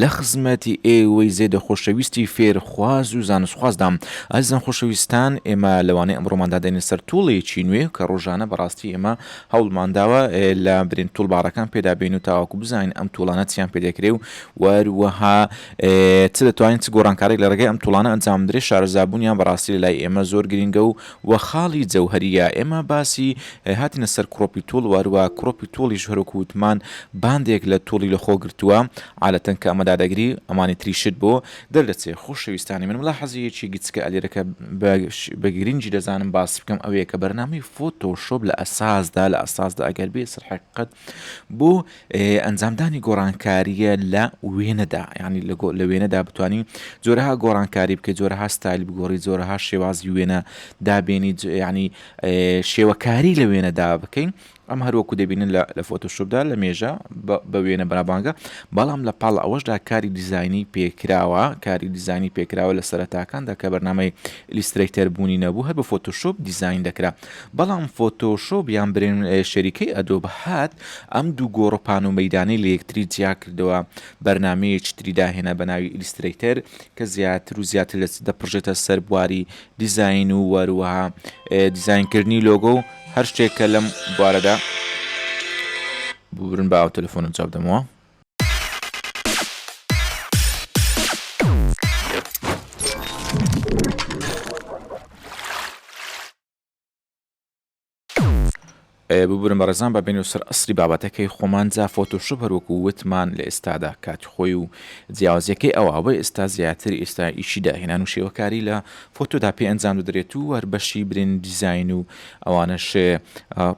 لە خزمەتی ئێوەی زێدە خۆشەویستی فێرخواز و زانستخوازدام. ئازیزان خۆشەویستان ئێمە لەوانەی ئەمڕۆماندا دێنە سەر توڵێکی نوێ کە ڕۆژانە بەڕاستی ئێمە هەوڵمانداوە لە برین توڵباڕەکان پێدا بێین و تاواکو بزانین ئەم توڵانە چیان پێ دەکرێ و وەروەها چ دەتوانین چ گۆڕانکارێک لە ڕێگەی ئەم توڵانە ئەنجام بدرێ شارەزابوونیان بەڕاستی لە لای ئێمە زۆر گرینگە و وە خاڵی جەوهەریە ئێمە باسی هاتینە سەر کڕۆپی توڵ وەروە کڕۆپی توڵیش هەروەکو وتمان باندێک لە توڵی لە خۆ گرتوە عالەتەن کە ئەمە دادەگری ئەمانی تریشت بۆ دەردەچێ خۆشەویستانی من ملاحەزەیەکی گچکە ئەلێرەکە بە بە گرینگی دەزانم باس بکەم ئەوەیە کە بەرنامەی فۆتۆ شۆپ لە ئەساسدا لە ئەساسدا ئەگەر بێ سەر حەقیقەت بۆ ئەنجامدانی گۆڕانکارییە لە وێنەدا ینی لە وێنەدا بتانی جۆرەها گۆڕانکاری بکە جۆرەها ستایل بگۆڕی جۆرەها شێوازی وێنە دابێنی ینی شێوەکاری لە وێنەدا بکەین ئەم هەروەکو دەبینن لە فۆتۆشوبدا لە مێژە بە وێنە بەرابانگە بەڵام لە پاڵ ئەوەشدا کاری دیزایانی پێکراوە کاری دیزانی پێکراوە لە سەرتاکاندا کە بەرنمەی لیسترەیتەر بوونی نەبوو هەر بە فۆتۆشوب دیزین دەکرا بەڵام فۆتۆشۆپ یان برێن شەریکەی ئەدۆب هات ئەم دوو گۆڕەپان و مەیدانەی لە یەکتری جیا کردەوە بەرنامەیەکی تری داهێنا بە ناوی ئیلیسترەیتەر کە زیاتر و زیاتر دەستی دەپڕژێتە سەر بواری دیزاین و وەروەها دیزاین کردنی لۆگۆ و هەر شتێک کە لەم بوارەدا ببورن بە ئاو تەلەفۆنم جواب دەمەوە. ببورن بەڕێزان بە بین و سەر ئەسری بابەتەکەی خۆمان جا فۆتۆشوب هەروەکو وتمان لە ئێستادا کاتی خۆی و جیاوازەکەی ئەوە ئەوە ئێستا زیاتر ئێستا ئیشی داهێنان و شێوەکاری لە فۆتۆدا پێ ئەنجام دەدرێت و هەر بەشی برین دیزین و ئەوانەشێ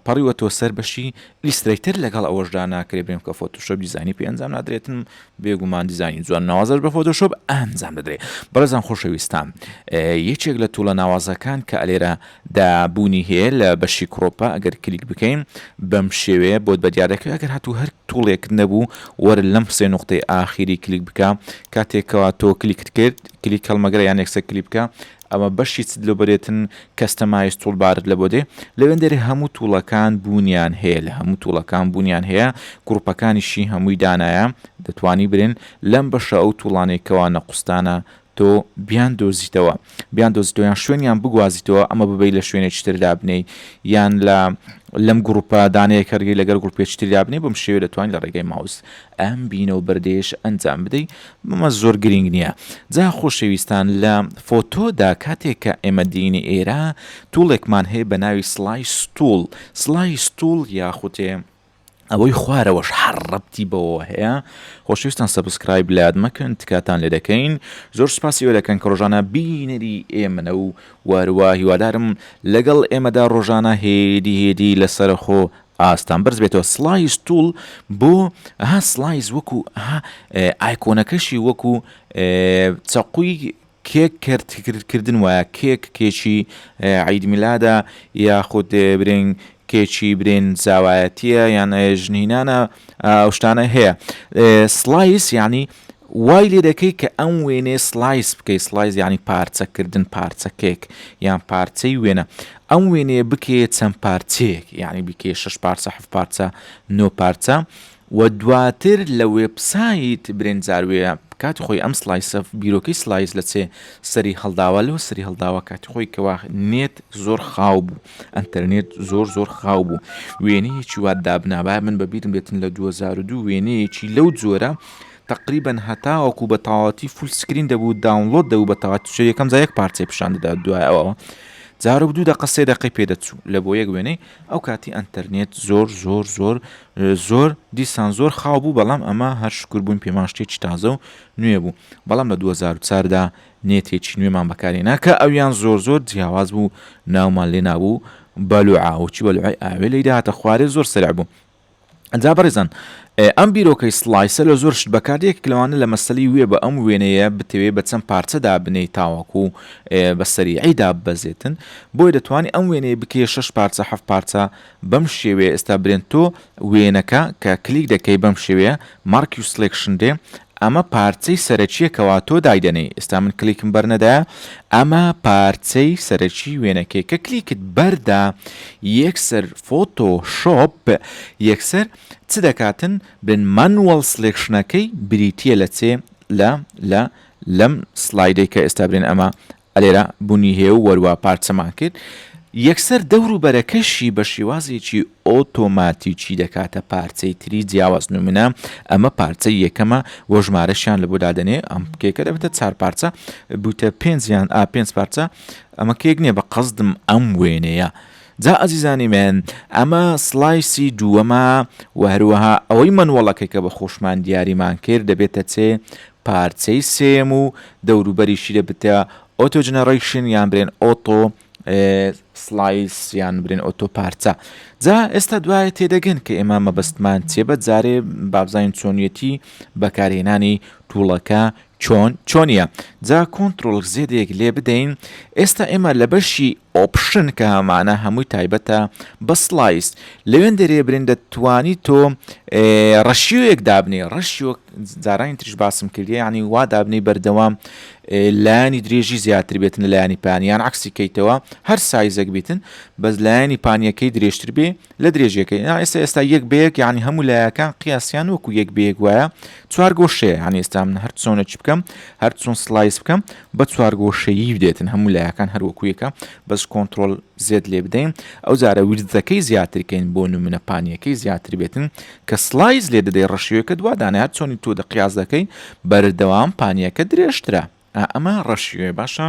پەڕیوە تۆ سەر بەشی ئیلسترەیتەر لەگەڵ ئەوەشدا ناکرێت بێم کە فۆتۆشۆپ دیزاینی پێ ئەنجام نادرێتن بێگومان دیزاینی جوان ناوازەش بە فۆتۆشۆپ ئەنجام دەدرێت بەڕێزان خۆشەویستان یەکێک لە توڵە ناوازەکان کە ئەلێرە دابوونی هەیە لە بەشی کڕۆپە ئەگەر کلیک بکەین بەم شێوەیە بۆت بە دیارەکە ئەگەر هاتوو هەر توڵێک نەبوو وەر لەم سێ نقطەی ئاخیری کلیک بکە کاتێکەوە تۆ کلیکت کرد کلیک هەڵمەگرە یان یەکسەر کلیپکە ئەمە بەشی چ دلۆبەرێتن کەستەمایز توڵبارت لە بۆ دێ لەوێندەرێ هەموو توڵەکان بوونیان هەیە لە هەموو توڵەکان بوونیان هەیە گڕوپەکانیشی هەمووی دانایە دەتوانی برێن لەم بەشە ئەو توڵانەی کەوا نەقوستانە تۆ بیان دۆزیتەوە بیان دۆزیتەوە یان شوێنیان بگوازیتەوە ئەمە ببەی لە شوێنێکی تر دابنێی یان لە لەم گروپە دانەیە کەرگی لەگەر گروپێکی تر دابنێ بم شێوێ دەتوانین لە ڕێگەی ماوس ئەم بینە و بەردێش ئەنجام بدەی مەمە زۆر گرینگ نیە. جا خۆشەویستان لە فۆتۆدا کاتێک کە ئێمە دێینە ئێرە توڵێکمان هەیە بە ناوی سڵای ستوڵ سڵای ستوڵ یاخوتێ ئەوەی خوارەوەش هەڕ ڕەبتی بەوەوە هەیە خۆشەویستان سەبسکرایب لات مەکەن تکاتان لێ دەکەین زۆر سوپاسی ئەوە دەکەن کە ڕۆژانە بینەری ئێمەنە و واروا هیوادارم لەگەڵ ئێمەدا ڕۆژانە هێدی هێدی لەسەرەخۆ ئاستان بەرز بێتەوە سڵایس توڵ بۆ ها سڵایس وەکو ها ئایکۆنەکەشی وەکو چەقوی کێک کردن وایە کێک کێکی عید میلادە یاخود برێن کێکی برێن زاوایەتیە یان ژنینانە ئەو شتانە هەیە سڵایس ینی وای لێ دەکەی کە ئەم وێنەیە سڵایس بکەی سڵایس یعنی پارچەکردن پارچەکێک یان پارچەی وێنە ئەم وێنەیە بکێ چەند پارچەیەک یعنی بکێ شش پارچە حف پارچە نۆ پارچە و دواتر لە وێبسایت برێنجاروێە کاتی خۆی ئەم سلایسە بیرۆکەی سلایز لە چێ سەری هەڵداوە لەو سری هەڵداوە کاتی خۆی کەوا نێت زۆر خاو بوو ئەتەرنێت زۆر زۆر خاو بوو وێنەیەکی وا دابنابا من بەبیرم بێتن لە 2002 وێنەیەکی لەو جۆرە تەقریبەن هەتاوەکو بە تەواوەتی فول سکرین دەبوو داونلۆد دەبوو بە تەواوەتی چ یەکەم جا یەک پارچەی پیشان دەدا دوای ئەوەوە جارۆک دوو دەقە سێ دەقەی پێدەچوو لە بۆ یەک وێنەی ئەو کاتی ئەتەرنێت زۆر زۆر زۆر زۆر دیسان زۆر خاو بوو بەڵام ئەمە هەر شکر بوون پێمان شتێکی تازە و نوێ بوو بەڵام لە 2004دا نێتێکی نوێمان بەکارێ ناکە ئەویان زۆر زۆر جیاواز بوو ناومان لێ نابوو بەلوعاوچی بەلوعی ئاوێ لەی داهاتە خوارێ زۆر سرع بوو جا بەڕێزان ئەم بیرۆکەی سڵایسە لە زۆر شت بەکار یەکێک لەوانە لە مەسەلی وێ بە ئەم وێنەیە بتەوێ بە چەند پارچە دابنێی تاوەکو بە سەریعی داببەزێتن بۆیە دەتوانانی ئەم وێنەیە بکەیە شەش پارچە هەفت پارچە بەم شێوەیە ئێستا برێن تۆ وێنەکە کە کلیک دەکەی بەم شێوەیە مارکی و سلێکشن دێ ئەمە پارچەی سەرەکیە کەوا تۆ دایدەنێی ئێستا من کلیکم بەرنەدایە ئەمە پارچەی سەرەکی وێنەکەی کە کلیکت بەردا یەکسەر فۆتۆ شۆپ یەکسەر چ دەکاتن بن مانوەڵ سلێکشنەکەی بریتە لە چێ لە لە لەم سلایدەی کە ئێستا برێن ئەمە ئەلێرە بونی هێو وەروا پارچەمان کرد یەکسەر دەور و بەرەکەشی بە شێوازێکی ئۆتۆماتیکی دەکاتە پارچەی تری جیاواز نمونە ئەمە پارچەی یەکەمە وە ژمارەشیان لە بۆ دادەنێ ئەم کێکە دەبێتە چار پارچە بوتە پێنج یان ئا پێنج پارچە ئەمە کێک نییە بە قەزدم ئەم وێنەیە جا ئازیزانی من ئەمە سلایسی دووەمە و هەروەها ئەوەی منوەڵەکەی کە بە خۆشمان دیاریمان کرد دەبێتە چێ پارچەی سێیەم و دەوروبەریشی لێ بتە ئۆتۆ جنەڕەیشن یان برێن ئۆتۆ سلایس یان برێن ئۆتۆ پارچە جا ئێستا دوایە تێدەگەن کە ئێمە مەبەستمان چێ بە جارێ بابزانین چۆنیەتی بەکارهێنانی توڵەکە چۆن چۆنیە جا کۆنتترۆل زێدێک لێ بدەین ئێستا ئێمە لە بەشی Option کە هەمانە هەمووی تایبەتە بە Slice لەوێن دەرێ برین دەتوانی تۆ ڕەشیۆیەک دابنێ ڕەشیۆ جارانی تریش باسم کردی ینی وا دابنی بەردەوام لایانی درێژی زیاتر بێتن لە لایانی پانیان عکسی کەیتەوە هەر سایزەک بیتن بەس لایانی پانیەکەی درێژتر بێ لە درێژیەکەی نا ئێستا ئێستا یەک بەیەک یعنی هەموو لایەکان قیاسیان وەکو یەک بەیەک وایە چوار گۆشەیە یعنی ئێستا من هەر چۆنە چ بکەم هەر چۆن سلایس بکەم بە چوار گۆشەیی بدێتن هەموو لایەکان هەر وەکو یەکە بەس کۆنتترۆل زێت لێ بدەین ئەو جارە ویرزەکەی زیاترکەین بۆ نمونە پانیەکەی زیاتر بێتن کە سلایز لێ دەدەی ڕەشیوەکە دووادانە هەر چۆنی تۆ دەقیاز دەکەی بەردەوام پانیەکە درێژترە ئەمە ڕەشیوێ باشە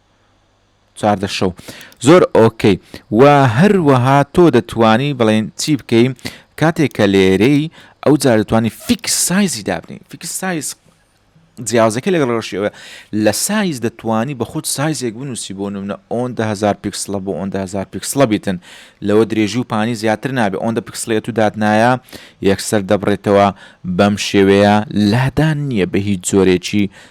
چاردە شەو زۆر ئۆکەی و هەروەها تۆ دەتوانی بڵێن چی بکەی کاتێک کە لێرەی ئەو جار دەتوانی فیکس سایزی دابنی فیکس سایز جیازەکە لەگەڵ ڕۆشیەوە لە سایز دەتوانی بە خۆت سایزێک بنووسی بۆ نمونە ئۆندهزار پیکسلە بۆ ئۆندهزار پیکسلە بیتن لەوە درێژی و پانی زیاتر نابێ ئۆندە پیکسلێت و دادنایە یەکسەر دەبڕێتەوە بەم شێوەیە لادان نییە بە هیچ جۆرێکی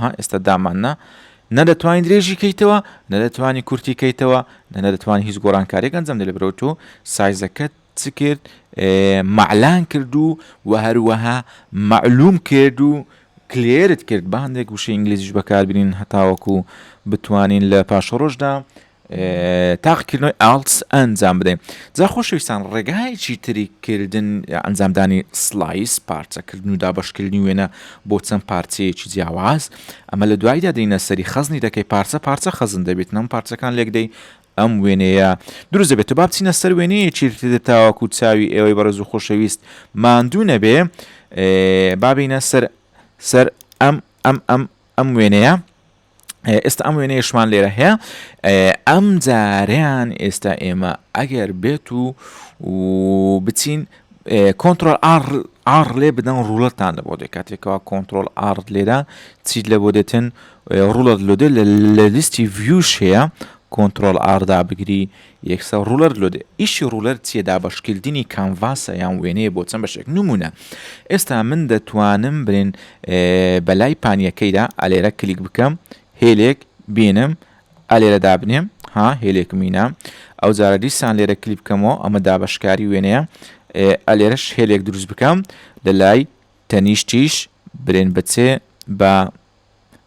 ها ئێستا دامان نا نە دەتوانانی درێژی کەیتەوە نە دەتوانانی کورتی کەیتەوە نە نەدەتوان هیچ گۆڕانکارێک ئەنجام دە لە برەوە تۆ سایزەکەت چ کرد مەعلان کرد و و هەروەها مەعلوم کرد و کلێرت کرد بە هەندێک وشە ئینگلیزیش بەکاربرین هەتاوەکو بتوانین لە پاشەڕۆژدا تاقیکردنەوەی ئالتس ئەنجام بدەین جا خۆشەویستان ڕێگایەکی تری کردن ئەنجامدانی سلایس پارچەکردن و دابەشکردنی وێنە بۆ چەند پارچەیەکی جیاواز ئەمە لە دوایدا دەینە سەری خەزنی دەکەی پارچە پارچە خەزن دەبێت نەم پارچەکان لێکدەی ئەم وێنەیە دروست دەبێت با بچینە سەر وێنەیەکی تر تاواکو و چاوی ئێوەی بەڕێز و خۆشەویست ماندوو نەبێ بابینە سەر سەر ئەم ئەم ئەم ئەم وێنەیە ئێستا ئەم وێنەیەشمان لێرە هەیە ئەم جاریان ئێستا ئێمە ئەگەر بێت و بچین کۆنتترۆل ئار لێ بدەن ڕوڵەتان لە بۆ دێ کاتێکەوە کۆنتترۆل ئار لێرە چیت لە بۆ دێتن ڕوڵەت لۆدێ لە لیستی ڤیوش هەیە کۆنتترۆل ئاردا بگری یەکسەر ڕولەر لۆ دێ. ئیشی ڕولەر چیە دابەشکردنی کانڤاسە یان وێنەیە بۆ چەند بەشێک نمونە ئێستا من دەتوانم برێن بەلای پانیەکەیدا ئەلێرە کلیک بکەم هێلێک بینم ئەلێرە دابنێم ها هێلێکم مینا ئەو جارە دیسان لێرە کلیک بکەمەوە ئەمە دابەشکاری وێنەیە ئەلێرەش هێلێک دروست بکەم لە لای تەنیشتیش برێن بچێ بە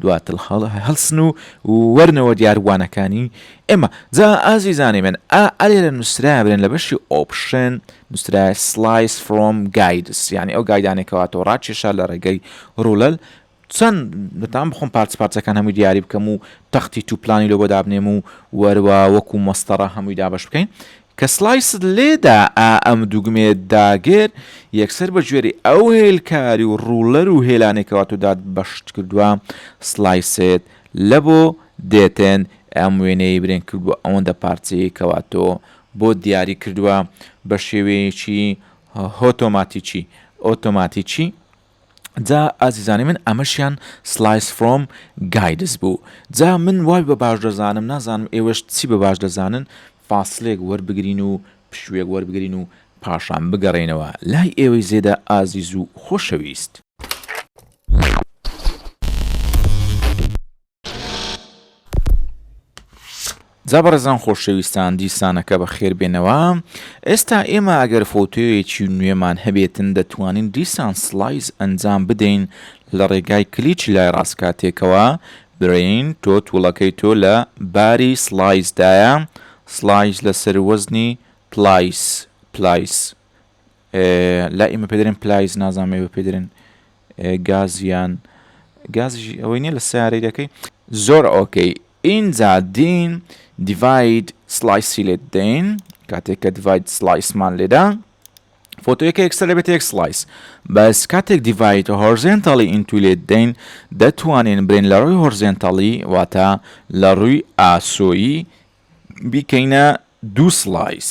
دواتر هەڵسن و وەرنەوە دیاربووانەکانی ئێمە. جا ئازیزانی من ئا ئەلێرە نووسراە بێن لە بەشی Option نووسراە Slice from Guides یانی ئەو گایدانەی کەوا تۆ ڕاکێشا لە ڕێگەی ڕوولەل چەند دەتان بخۆم پارچە پارچەکان هەمووی دیاری بکەم و تەختی توو پلانی لۆ بۆ دابنێم و وەروا وەکوو مەسطەڕە هەمووی دابەش بکەین کە سڵایست لێدا ئا ئەم دوگمەیەت داگێر یەکسەر بە گوێرەی ئەو هێلکاری و ڕوڵەر و هێلانەی کە واتۆدات بەشت کردوە سڵایسێت لە بۆ دێتێن ئەم وێنەیەی برێن کردوە ئەوەندە پارچەیەی کە واتۆ بۆت دیاری کردوە بە شێوەیەکی هۆتۆماتیکی ئۆتۆماتیکی جا ئازیزانی من ئەمەشیان سلایس فرۆم گایدس بوو جا من وای بە باش دەزانم نازانم ئێوەش چی بە باش دەزانن فاسلێک وەربگرین و پشوێک وەربگرین و پاشان بگەڕێنەوە لای ئێوەی زێدە ئازیز و خۆشەویست. جا بەڕێزان خۆشەویستان دیسانەکە بە خێر بێنەوە ئێستا ئێمە ئەگەر فۆتۆیەکی نوێمان هەبێتن دەتوانین دیسان سلایز ئەنجام بدەین لە ڕێگای کلیچ لای ڕاستکاتێکەوە برین تۆ توڵەکەی تۆ لە باری سلایزدایە سلایز لەسەر وەزنی پلایس پلایس لای ئێمە پێدرێن پلایس نازانم ئێوە پێدرێن گازیان گازیشی ئەوەی نیە لە سیارەی دەکەی زۆر ئۆکەی ئینجا دین دیڤید سلایسی لێت دەین کاتێک کە دیڤید سلایسمان لێدا فۆتۆیەکە یەکسەر لەبێت یەک سلایس بەس کاتێک دیڤید هۆرزێنتەڵی ئینتو لێت دەین دەتوانین برێن لە ڕووی هۆرزێنتەڵی واتە لە ڕووی ئاسۆیی بیکەینە دوو سلایس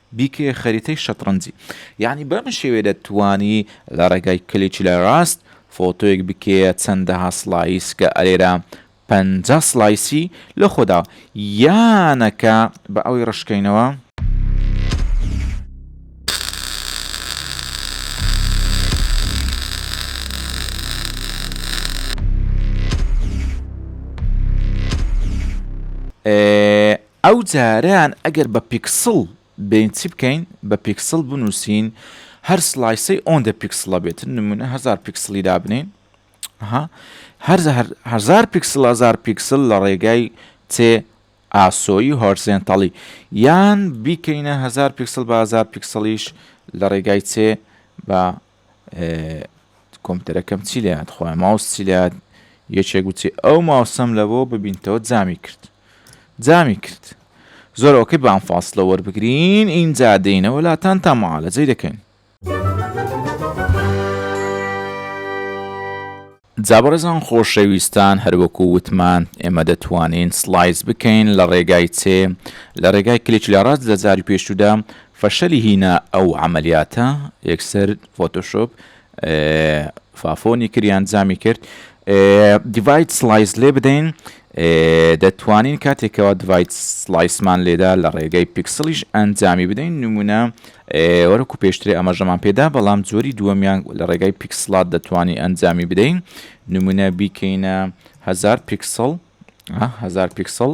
بیکەیە خەریتەی شەتڕەنجی یانی بەم شێوەیە دەتوانی لە ڕێگای کلیکی لای ڕاست فۆتۆیەک بکەیە چەندەها سڵایس کە ئەرێرا پەنجا سڵایسی لە خۆدا یانەکە بە ئەوی ڕشکەینەوە. ئێ. ئەو جاریان ئەگەر بە پیکسڵ بێین چی بکەین بە پیکسڵ بنوسین هەر سڵایسەی ئۆندە پیکسڵە بێت نمونە هەزار پیکسڵی دابنین ها هەر هەزار پیکسڵ هەزار پیکسل لە ڕێگای چێ ئاسۆی هۆرزێنتەڵی یان بیکەینە هەزار پیکسل بە هەزار پیکسڵیش لە ڕێگای چێ بە کۆمپیوتەرەکەم چی لێهات خۆیان ماوس چی لێهات یەکێک گوتی ئەو ماوسەم لە بۆ ببینتەوە جامی کرد جامی کرد زۆر ئەوکەی بام فاصلە وەربگرین ئینجا دێینەوە لاتان تا معالەجەی دەکەین جا بەڕێزان خۆشەویستان هەروەکو وتمان ئێمە دەتوانین سڵایس بکەین لە ڕێگای چێ؟ لە ڕێگای کلیچ لە ڕاست لە جاری پێشوودا فەشەلی هینا ئەو عەمەلیاتە یەکسەر فۆتۆشۆپ فافۆنی کرد یان جامی کرد دیڤایت سڵایس لێ بدەین دەتوانین کاتێک کەوا دڤایت سڵایسمان لێدا لە ڕێگەی پیکسڵیش ئەنجامی بدەین نمونە وەرەکو پێشترێ ئەمەژەمان پێدا بەڵام جۆری دووەمیان لە ڕێگای پیکسلات دەتوانین ئەنجامی بدەین نمونە بیکەینە هزار پیکسڵ هزار پیکسڵ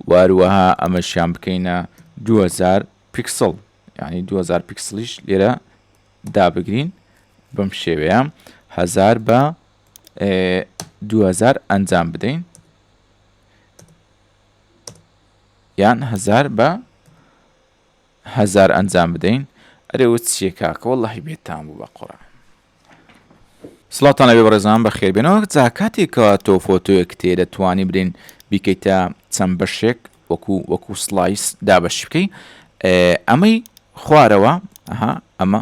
واروەها ئەمەشیان بکەینە 2000 پیکسڵ ینی 2000 پیکسلیش لێرە دابگرین بەم شێوەیە هزار بە دوهەزار ئەنجام بدەین یان هەزار بە هەزار ئەنجام بدەین ئەرێوە چیە کاکە وەڵی بێتان بوو بە قڕە سڵاتانە بێ بەڕێزان بە خێربێنەوە جا کاتێکەوە تۆ فۆتۆیەک تێ دەتوانی برین بیکەیتە چەند بەشێک وەکو وەکو سلایس دابەش بکەی ئەمەی خوارەوە ئەها ئەمە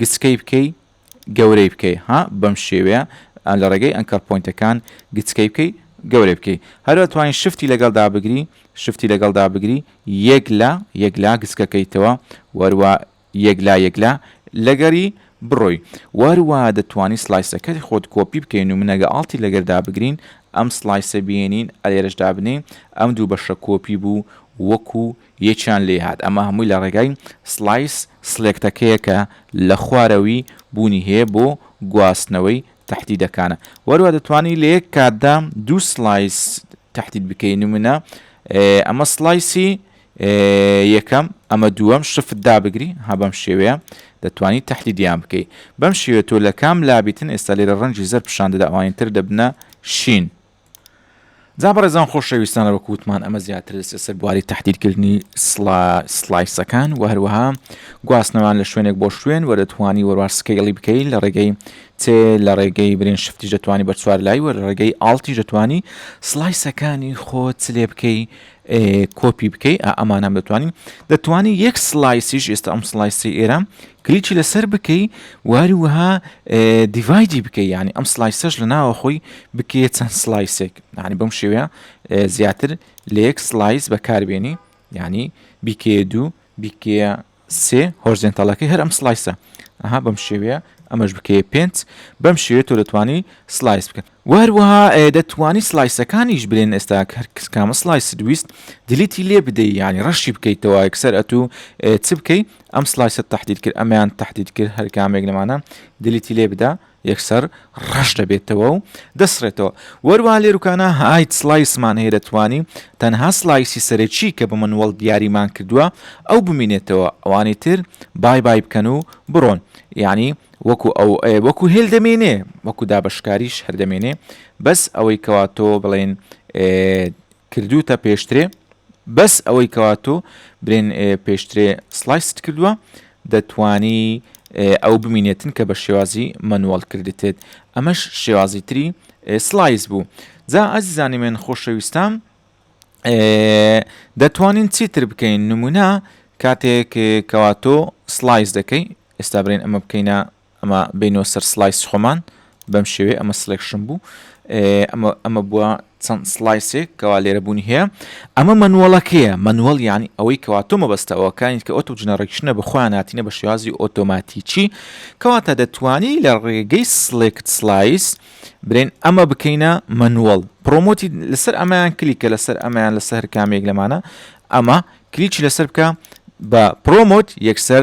گچکەی بکەی گەورەی بکەی ها بەم شێوەیە لە ڕێگەی ئەنکەر پۆینتەکان گچکەی بکەی گەورەی بکەی هەر ئەتوانی شفتی لەگەڵدا بگری شفتی لەگەڵدا بگری یەک لە یەک لا گچکەکەیتەوە وەروە یەک لا یەک لا لەگەری بڕۆی وەروە دەتوانی سلایسەکەت خۆت کۆپی بکەین و منەگە ئاڵتی لەگەردا بگرین ئەم سلایسە بێنین ئەلێرەش دابنین ئەم دوو بەشە کۆپی بوو وەکو یەکیان لێ هات ئەمە هەمووی لە ڕێگای سڵایس سڵێکتەکەیە کە لە خوارەوی بوونی هەیە بۆ گواستنەوەی تەحدیدەکانە وەروا دەتوانی لە یەک کاتدا دوو سڵایس تەحدید بکەی نمونە ئەمە سڵایسی یەکەم ئەمە دووەم شفت دابگری ها بەم شێوەیە دەتوانی تەحدیدیان بکەی بەم شێوێت تۆ لە کام لابیتن ئێستا لێرە ڕەنجی زەر پیشان دەدا ئەوانی تر دەبنە شین جا بەڕێزان خۆشەویستانە وەکو وتمان ئەمە زیاتر دەسێت سەر بواری تهدیرکردنی سلایسەکان و هەروەها گواستنەوان لە شوێنێک بۆ شوێن وە دەتوانی وەروار سکەیڵی بکەی لە ڕێگەی تێ لە ڕێگەی برێن شفتی دەتوانی بە چوار لای وە ڕێگەی ئاڵتی دەتوانی سلایسەکانی خۆت لێ بکەی کۆپی بکەی ئەمانام دەتوانین دەتوانی یەک سلایسیش ئێستا ئەم سلایسی ئێرە کلیکی لەسەر بکەی واری وها دیڤایدی بکەی یعنی ئەم سلایسەش لە ناوە خۆی بکەیە چەند سلایسێک یعنی بەم شێوەیە زیاتر لە یەک سلایس بەکاربیێنی یعنی بیکەیە دوو بیکەیە سێ هۆرزێنتەڵەکەی هەر ئەم سلایسە ئەها بەم شێوەیە ئەمەش بکەیە پێنج بەم شێوێت تۆ دەتوانی سلایس بکەن و هەروەها دەتوانی سلایسەکانیش برێن ئێستا کە هەرکس کامە سلایست ویست دلیتی لێ بدەی یعنی ڕەشی بکەیتەوە یەکسەر ئەتو چ بکەی ئەم سلایسە تهدید کرد ئەمیان تهدید کرد هەر کامێک لەمانە دلیتی لێ بدا یەکسەر ڕەش دەبێتەوە و دەسڕێتەوە وەروا لێروکانە هایت سلایسمان هەیە دەتوانی تەنها سلایسی سەرەکی کە بە منوەڵ دیاریمان کردووە ئەو بمینێتەوە ئەوانی تر بای بای بکەن و بڕۆن یعنی وەکو ئەو ئەێ وەکو هێل دەمێنێ وەکو دابەشکاریش هەر دەمێنێ بەس ئەوەی کەوا تۆ بڵێن کردوتە پێشترێ بەس ئەوەی کەوا تۆ برێن پێشترێ سلایست کردووە دەتانی ئەو بمینێتن کە بە شێوازی مەنوەڵ کردتێت ئەمەش شێوازی تری سلایس بوو جا ئازیزانی من خۆشەویستان دەتوانین چیتر بکەین نمونە کاتێک کەواتۆ سلایس دەکەی ئێستا برێن ئەمە بکەینە ئەمە بینەوە سەر سلایس خۆمان بەم شێوێ ئەمە سلێکشن بوو ئەمە ئەمە بووە چەند سلایسێک کەوا لێرە بوونی هەیە ئەمە منوەڵەکەیە منوەڵ یعنی ئەوەی کەوا تۆ مەبەستەوەکانیت کە ئۆتو جنەڕێکشنە بخۆیان هاتینە بە شێوازی ئۆتۆماتیکی کەواتە دەتوانی لە ڕێگەی سلێکت سلایس برێن ئەمە بکەینە منوەڵ پرۆمۆتی لەسەر ئەمەیان کلیکە لەسەر ئەمەیان لەسەر کامێک لەمانە ئەمە کلیچی لەسەر بکە بە پرۆمۆت یەکسەر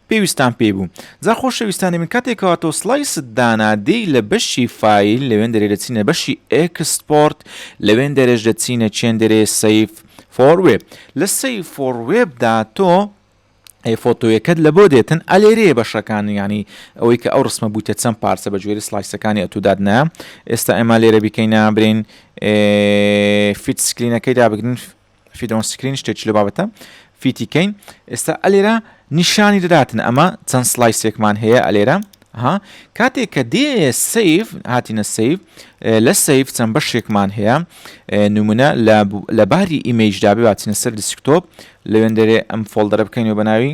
پێویستان پێی بوو. جا خۆشەویستانی من کاتێک کەوا تۆ سڵایست دانا دێی لە بەشی فایل لەوێن دەرێ دەچینە بەشی ئێکسپۆرت لەوێن دەرێش دەچینە چێن دەرێ سەیف فۆر وێب لە سەیف فۆر وێبدا تۆ ئەی فۆتۆیەکەت لە بۆ دێتن ئەلێرێ بەشەکان ینی ئەوەی کە ئەو ڕسمە بووتە چەند پارچە بە جوێری سلایسەکانی ئەتوداد نە ئێستا ئێمە لێرە بیکەین نابرین فیت سکرینەکەی دابگرین فیدۆن سکرین شتێکی لە بابەتە فیتی کەین ئێستا ئەلێرە نیشانی دەداتن ئەمە چەند سلای سێکمان هەیە ئەلێرە ها کاتێک کە دێ سیف هاتینە سیف لە سیف چەند بەشێکمان هەیە نمونە لە باری ئیمەیشدا بباتینە سەر دیسکتۆپ لەوێن دەرێ ئەم فۆلدەرە بکەینەوە بەناوی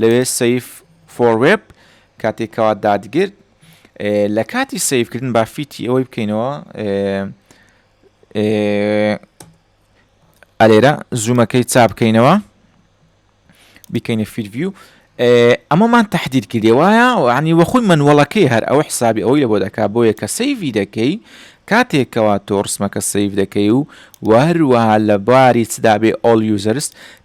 لەوێ سەیڤ فۆر وێب کاتێک کەوا دادگرت لە کاتی سەیڤکردن با فیتی ئەوەی بکەینەوە ئەلێرە زوومەکەی چا بکەینەوە بیکەینە فیرڤیو ئەمەمان تهدید کردێ وایە عنی وەخۆی منوەڵەکەی هەر ئەو حسابی ئەوەی لە بۆ دەکا بۆیە کە سەیڤی دەکەی کاتێکەوە تۆ ڕسمەکە سەیف دەکەی و وەروەها لە باری چدابێ ئۆل یوزەرست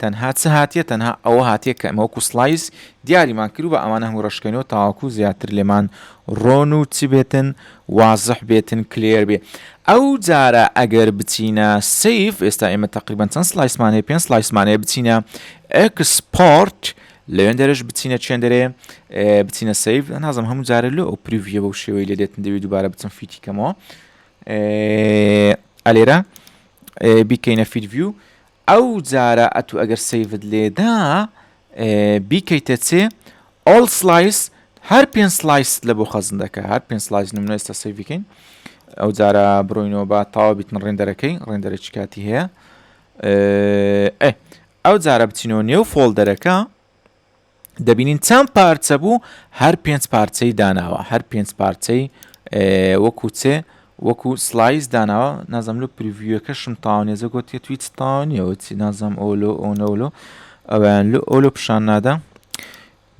تەنها چ هاتیە تەنها ئەوە هاتیە کە ئێمە وەکو سڵایس دیاریمان کرد و بە ئەمانە هەموو رەشکەینەوە تاوەکو زیاتر لێمان رۆن و چ بێتن وازح بێتن کلێر بێ ئەو جارە ئەگەر بچینە سیف ئێستا ئێمە تەقریبەن چەند سڵایسمان هەیە پێنج سڵایسمان هەیە بچینە ئەکسپۆرت لەوێن دەرەش بچینە چێندەرێ بچینە سیف نازم هەموو جارە لۆ ئەو پریڤە بەو شێوەی لێ دێتن دەوێت دووبارە بچم فیتی کەمەوە ئەلێرە بیکەینە فیدڤیو ئەو جارە ئەتو ئەگەر سەیڤت لێدا بیکەیتە چێ All Slice هەر پێنج سلایست لە بۆ خەزن دەکە هەر پێنج سلایس نمونە ئێستا سەیڤیکەین ئەو جارە بڕۆینەوە با تاوا بیتن ڕێندەرەکەی ڕێندەرێکی کاتی هەیە ئەو جارە بچینەوە نێو فۆڵدەرەکە دەبینین چەند پارچە بوو هەر پێنج پارچەی داناوە هەر پێنج پارچەی وەکو چێ وەکو سلایز داناوە نازم لە پرڤیوەکەشم تاوانێزە گوتێ توی تاوانیەوە چی نازم ئۆلۆ ئۆنەولۆ ئەویان لە ئۆلۆ پیشان نادا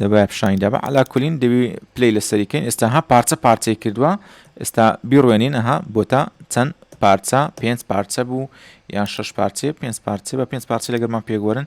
دەبە پیشانی دەبە علاکولین دەبی پلی لە سەریکەین ئێستا ها پارچە پارچەی کردووە ئێستا بیڕوێنین ئەها بۆتە چەند پارچە پێنج پارچە بوو یان شش پارچێ پێنج پارچێ بە پێنج پارچە لەگەرمان پێگوەرن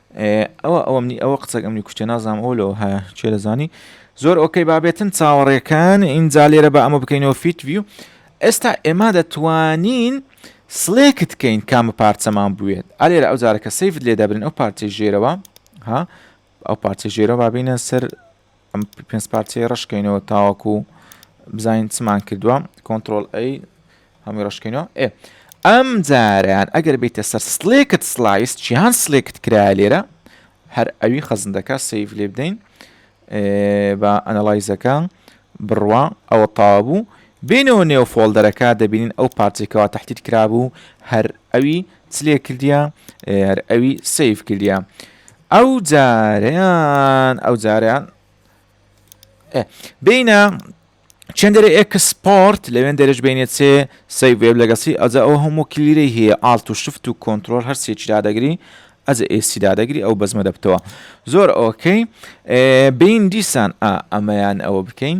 ئەوە ئەوە منی ئەوە قسەک ئەمنی کوشتێ نازام ئەو لەەوە هەیە چێ دەزانی زۆر ئۆکەی بابێتن چاوەڕێکان ئینجا لێرە بە ئەمە بکەینەوە فیت ویو ئێستا ئێمە دەتوانین سلێکت کەین کامە پارچەمان بوێت ئالێرە ئەو جارەکە سیفت لێ دەبرن ئەو پارچەی ژێرەوە ها ئەو پارچە ژێرە بابینە سەر ئەم پێنج پارچەیە ڕەشکەینەوە تاوەکو بزانین چمان کردووە کۆنتترۆل ئەی هەمی ڕشکینەوە ئێ ئەم جاریان ئەگەر بیتە سەر سلێکت سلایس چیان سلێکت کرا لێرە هەر ئەوی خەزندەکە سیف لێ بدەین بە ئەنەلایزەکە بڕوا ئەوە تاوا بوو بینەوە نێو فۆلدەرەکە دەبینین ئەو پارچێکەوە تحتیت کرابوو هەر ئەوی چلێ کردیا هەر ئەوی سیف کردیا ئەو جاریان ئەو جاریان بینە چندێرە ئێکس سپۆرت لەوێن دەرش بینێت سێ سەی وێب لەگەسی ئەجا ئەو هەموو کلیرەی هەیە ئاڵت و شفت و کۆنتترۆل هەر سێکی دادەگری ئەز ئێسی دادەگری ئەو بەزمە دەبتەوە زۆر ئۆکەی بین دیسان ئەمەیان ئەوە بکەین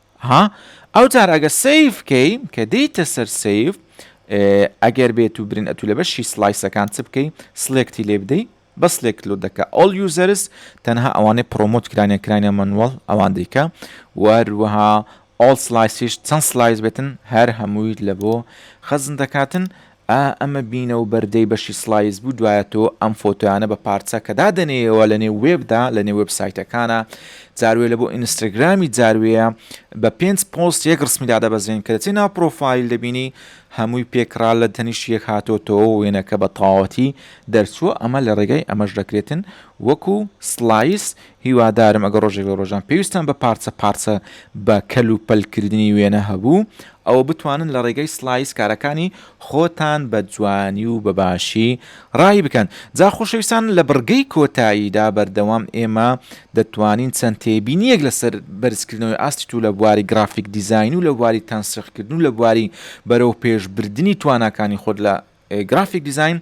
ها ئەوجار ئەگە سیف کەی کە دێیتە سەر سیف ئەگەر بێت و برین ئەتو لە بەشی سلایسەکان چ بکەی سلێکتی لێ بدەی بە سلێکت لۆ دەکە ئەڵ یوزەرس تەنها ئەوانەی پرۆمۆت کرانە کرانە منوەڵ ئەوان دیکە وەروەها ئۆڵ سلایسیش چەند سلایس بێتن هەر هەمووی لە بۆ خەزن دەکاتن ئا ئەمە بینە و بەر دەی بەشی سڵایس بوو دوایە تۆ ئەم فۆتۆیانە بە پارچە کە دادەنێیەوە لە نێو وێب دا لە نێو وێب سایتەکانا جار وێ لە بۆ ئینستاگرامی جار وێیە بە پێنج پۆست یەک ڕسمی دادەبەزێن کە دەچێ ناو پرۆفایل دەبینی هەمووی پێکڕا لە تەنیشت یەک هاتۆتەوە و وێنەکە بە تەواوەتی دەرچووە ئەمە لە ڕێگای ئەمەش دەکرێتن وەکوو سڵایس هیوادارم ئەگەر ڕۆژێک لە ڕۆژان پێویستتان بە پارچە پارچە بە کەل و پەل کردنی وێنە هەبوو ئەوە بتوانن لە ڕێگەی سلایس کارەکانی خۆتان بە جوانی و بە باشی ڕایی بکەن جا خۆشەویستان لە بڕگەی کۆتاییدا بەردەوام ئێمە دەتوانین چەند تێبینیەک لەسەر بەرزکردنەوەی ئاستی تو لە بواری گرافیک دیزاین و لە بواری تەنسیقکردن و لە بواری بەرەو پێش بردنی تواناکانی خۆت لە گرافیک دیزاین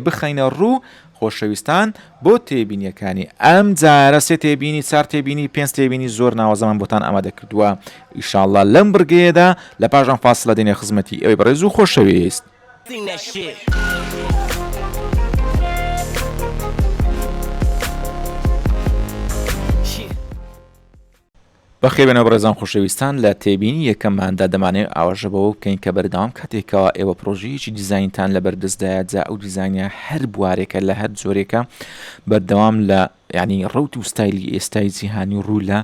بخەینە ڕوو خۆشەویستان بۆ تێبینیەکانی ئەم جارە سێ تێبینی چار تێبینی پێنج تێبینی زۆر ناوازەمان بۆتان ئامادە کردووە ئیشاءاللە لەم بڕگەیەدا لە پاشان فاصلە دێنێ خزمەتی ئەوی بەڕێز و خۆشەویست بەخێربێنەوە بەڕێزان خۆشەویستان لە تێبینی یەکەمماندا دەمانەوێت ئاوەژە بەوە بکەین کە بەردەوام کاتێک کەوا ئێوە پرۆژەیەکی دیزاینتان لە بەردەستدایە جا ئەو دیزانە هەر بوارێکە لە هەر جۆرێکە بەردەوام لە ینی ڕوت و ستایلی ئێستای جیهانی ڕوو لە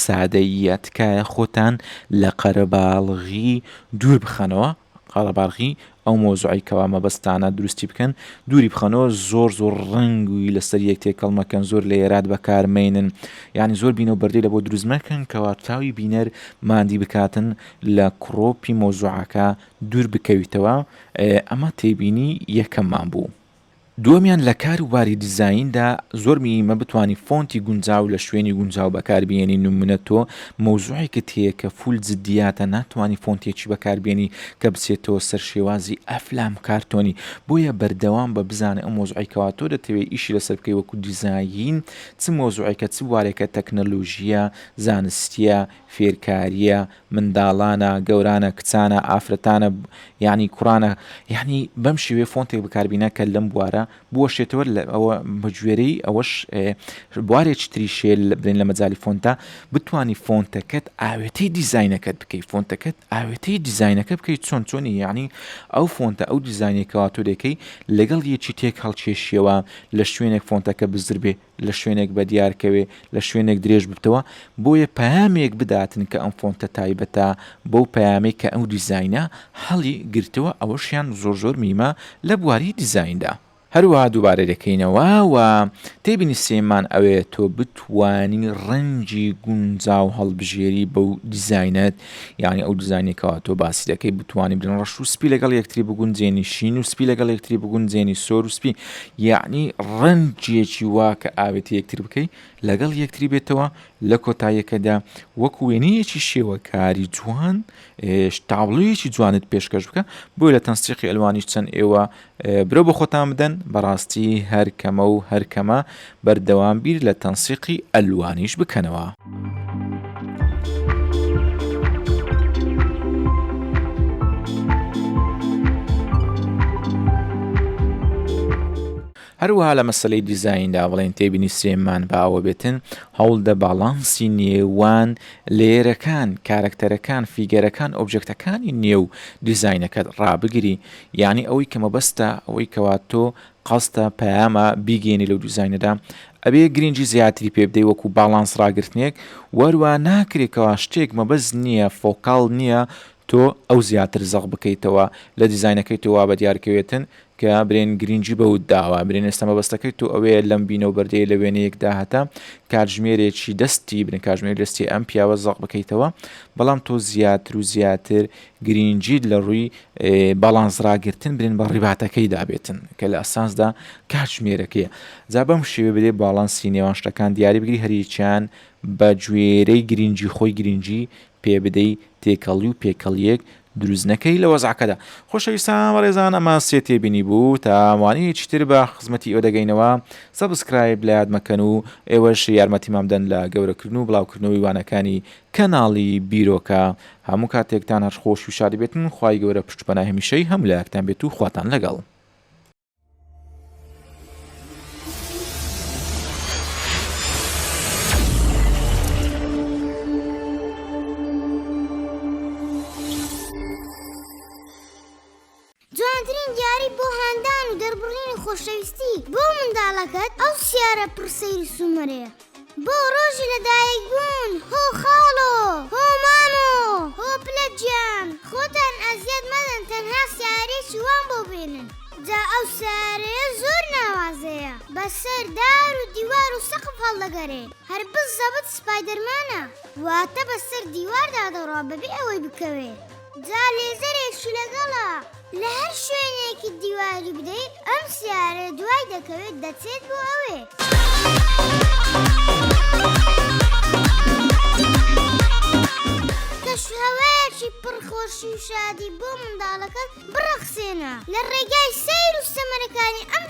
سادەیە تکایە خۆتان لە قەرەباڵغی دوور بخەنەوە قەرەباڵغی ئەو مەوزوعەی کەوا مەبەستتانە دروستی بکەن دووری بخەنەوە زۆر زۆر ڕەنگی لەسەر یەک تێکەڵ مەکەن زۆر لە یەرات بەکار مەینن یانی زۆر بینەو بەردەی لەبۆ دروست مەکەن کەوا چاوی بینەر ماندی بکاتن لە کڕۆپی مەوزوعەکە دوور بکەویتەوە ئەمە تێبینی یەکەممان بوو. دووەمیان لە کار وباری دیزایندا زۆر مییمە بتوانی فۆنتی گونجاو لە شوێنی گونجاو بەکار بێنی نمونە تۆ مەوزوعێکت هەیە کە فول جدیاتە ناتوانی فۆنتێکی بەکار بێنی کە بچێتەوە سەر شێوازی ئەفلام کارتۆنی بۆیە بەردەوام بە بزانە ئەو مەوزوعەی کەوا تۆ دەتەوێ ئیشی لەسەر بکەی وەکو دیزاین چ مەوزوعێکە چ بوارێکە تەکنەلوژییە زانستییە فێرکارییە منداڵانە، گەورانە، کچانە، ئافرەتانە، یانی کوڕانە، یانی بەم شێوەیە فۆنتێک بەکاربینا کە لەم بوارە بوەشێتەوە ئەوە بەگوێرەی ئەوەش بوارێکی تری شێل برێن لە مەجای فۆنتە بتانی فۆنتەکەت ئاوێتەی دیزینەکەت بکەیت فۆنتەکەت ئاوێتەی دیزینەکە بکەیت چۆن چۆنی یعنی ئەو فۆنتە ئەو دیزینێکەوە تۆ دەکەی لەگەڵ یەکی تێک هەڵکێشیەوە لە شوێنێک فۆنتەکە بزربێ لە شوێنێک بەدیار کەوێ لە شوێنێک درێژ ببتەوە بۆیە پەیامێک بداتن کە ئەم فۆنتە تایبەتە بەو پەیامەی کە ئەو دیزاینە هەڵی گرتەوە ئەوەشیان زۆر زۆر میمە لە بواری دیزایندا. هەروەها دووبارە دەکەینەوە و تێبینیسێمان ئەوەیە تۆ بتوانی ڕەنگی گونجاو هەڵبژێری بەو دیزاینەت یانی ئەو دیزاینەی کەوا تۆ باسی دەکەی بتوانی بن ڕەش و سپی لەگەڵ یەکتری بگونجێنی شین و سپی لەگەڵ یەکتری بگونجێنی سۆر و سپی یعنی ڕەنجێکی وا کە ئاوێتی یەکتر بکەی لەگەڵ یەکتری بێتەوە لە کۆتاییەکەدا وەک وێنەیەکی شێوەکاری جوان تاوڵەیەکی جوانت پێشکەش بکە بۆی لە تەنسیقی ئەلوانیش چەند ئێوە برۆ بۆ خۆتان بدەن بەڕاستی هەر کەمە و هەر کەمە بەردەوام بیر لە تەنسیقی ئەلوانیش بکەنەوە. هەروەها لە مەسلەی دیزایندا بڵێن تێبینی سلێمان باوە بێتن هەوڵدە باڵانسی نێوان لێرەکان کارەکتەرەکان فیگەرەکان ئۆبجەکتەکانی نێو دیزینەکەت ڕابگری یانی ئەوەی کە مەبەستە ئەوەی کەوا تۆ قەستە پەیامە بیگەێنی لەو دیزینەدا ئەبێ گرنگی زیاتری پێ بدەی وەکو باڵانس ڕاگررتنێک وەروە ناکرێکەوە شتێک مەبەز نییە فۆکال نییە تۆ ئەو زیاتر زەق بکەیتەوە لە دیزینەکەی تۆوا بە دیارکەوێتن کە برێن گرنگی بەوت داوە برێن ئێستا مەبەستەکەی تۆ ئەوەیە لەم بینە و بەردەیە لە وێنەیەکدا هەتا کاتژمێرێکی دەستی بن کاژمێر دەستی ئەم پیاوە زەق بکەیتەوە بەڵام تۆ زیاتر و زیاتر گرینگیت لە ڕووی باڵانس ڕاگرتن برێن بە ڕیباتەکەی دابێتن کە لە ئەساسدا کاتژمێرەکەیە جا بەم شێوێ بدێ باڵانسی نێوان شتەکان دیاری بگری هەریچیان بە گوێرەی گرینگی خۆی گرینگی پێ بدەی تێکەڵی و پێکەڵیەک دروست نەکەی لە وەزعکەدا خۆشەویستان بەڕێزان ئەمە سێ تێبینی بوو تاوانەیە چیتر بە خزمەتی ئەو دەگەینەوە سەبسکرایب لە یادمەکەن و ئێوەش یارمەتیمامدەن لە گەورەکردن و بڵاوکردنەوەی وانەکانی کەناڵی بیرۆکە هەموو کاتێکتان هەر خۆش و شاد بێتن خوای گەورە پشت پەنای هەمیشەی هەموو لایەکتان بێت و خواتان لەگەڵ. جوانترین دیاری بۆ هاندان و دەربڕینی خۆشەویستی بۆ منداڵەکەت ئەو سیارە پڕ سەیر و سومەرەیە بۆ ڕۆژی لەدایک بوون هۆ خاڵۆ هۆ مامۆ هۆ پلە گیان خۆتان ئەزیەت مەدەن تەنها سیارەیەکی وام بۆ بێنن جا ئەو سیارەیە زۆر ناوازەیە بەسەر دار و دیوار و سەقف هەڵدەگەرێ هەر بزەبت سپایدەرمانە واتە بەسەر دیواردا دەڕوا بەبێ ئەوەی بکەوێ. جا لێزەرێکی لەگەڵە لە هەر شوێنێکی دیواری بدەیت ئەم سیارە دوای دەکەوێت دەچێت بۆ ئەوێ. کەشوهەوایەکی پڕ خۆشی و شادی بۆ منداڵەکەت بڕەخسێنە لە ڕێگای سەیر و سەمەرەکانی ئەم